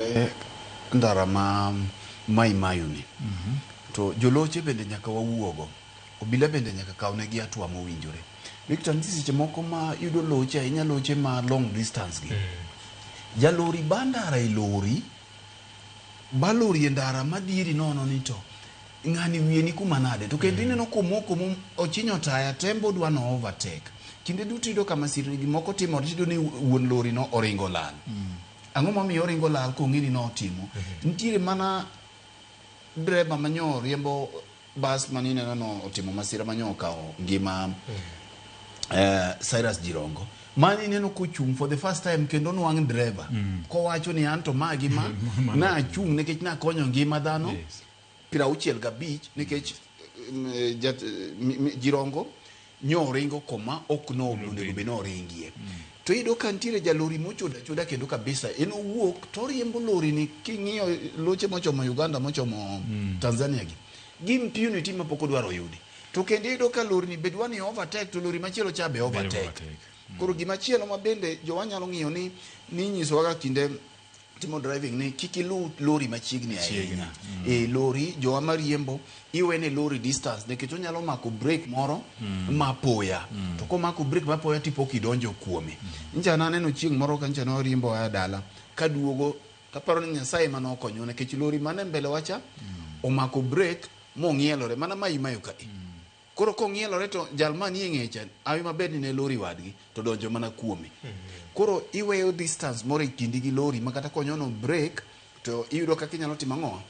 e ndara ma Mai Mahiu ni to joloche bende nyaka wawuogo. Obila bende nyaka kaw ne gi atua mowinjore. Victor nitie seche moko ma yudo loche ahinya loche ma long distance gi. Jalori ba ndara e lori, ba lori e ndara ma dhieri nono ni to ng'ani wiye ni kuma nade. To kendo ineno komoko mo ochinyo taya tembe odwa no overtake. Kinde duto iyudo ka masirni gi moko timore tiyudo ni wuon lori no oringo olal. Ang'o momiyo oringo lal kong'e ni notimo? Nitiere mana dreba manyo riembo bas mane ineno no otimo masira manyo okawo ngima eh, Cyrus Jirongo mane ineno kochung' for the first time kendo nwang' dreba kowacho ni an to ma gi ma nachung' nikech nakonyo ngima dhano Yes. piero auchiel gabich nikech mm, eh, jat- eh, mi- mi- jirongo nyoringo koma ok nogo onego bed noringie to iyudo ka nitiere jalori mochoda choda kendo kabisa en owuok to oriembo lorini king'iyo loche mochomo uganda mochomo tanzania gi gi impunity ma pok odwaro yudi to kendo iyudo ka lorini be dwa ni overtake to lori machielo cha be overtake overtake. koro gimachielo ma bende jowa nyalo ng'iyo ni ninyisowaga kinde timo driving ni kik iluw lori machiegni ahinya e lori jowa mariembo iwene lori distance nikech onyalo mako break moro mapoya to komako break mapoya tipo kidonjo kuome nja naneno chieng' moro ka nja noriembo aya dala kaduogo taparo ni nyasaye ema nokonyo nikech lori mane mbele wacha omako break mong'ielore mana mayimayo ka Koro kong'ielore to jal ma nie ng'eyi cha hawi maber ni ne lori wadgi to donjo mana kuome. Koro iweyo distance moro e kindi gi lori ma kata konyono break to iyudo kaka inyalo timo ang'o?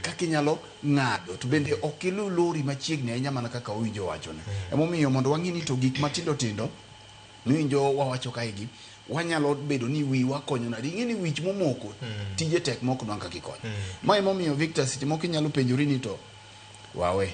Kaka inyalo ng'ado. To bende ok iluw lori machiegni ahinya mana kaka owinjo wachone. Emomiyo mondo wang'e ni to gik matindo tindo miwinjo wawacho kae gi wanyalo bedo ni wiwa konyo nadi. Ing'e ni wich momoko tije tek ma ok nwang' kaka ikonye. Ma emomiyo Victor seche moko inyalo penjori ni to wawe.